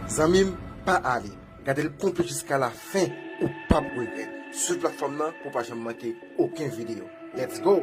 Zanmim pa ale gadel konplet jiska la fen ou pap regrèt swiv platfòm nan pou pa janm manke oken video let's go.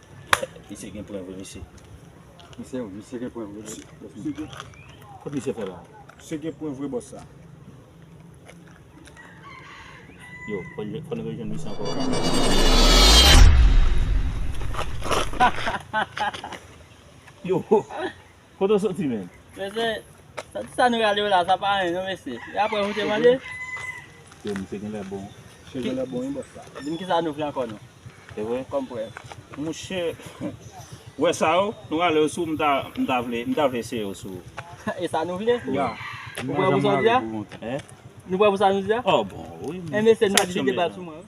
Misye gen pwen vre mesye. Misye misye gen pwen vre mesye. Misye gen kot misye fè la. Misye gen pwen vre boss sa. Yo fò n rejwenn misye ankò. Yo. Kote w soti menm? Mesye, soti sa nou rale yo la, sa pa anyen non mesye. E apre moun te mande? Yo misye genlè bon. Misye genlè bon wi bòs la. Di m kisa nou vle ankò non. E vre? Kòm prèv. Mouche, wè sa yo, nou rale yo sou m ta, m ta vle, m ta vle eseye yo sou. E sa nou vle? Ya. Ou prè pou sa w di a? Hein? Nou prè pou sa nou di a? Oh bon wi. Hein mesye nou mèt vide bal sou mwen wi.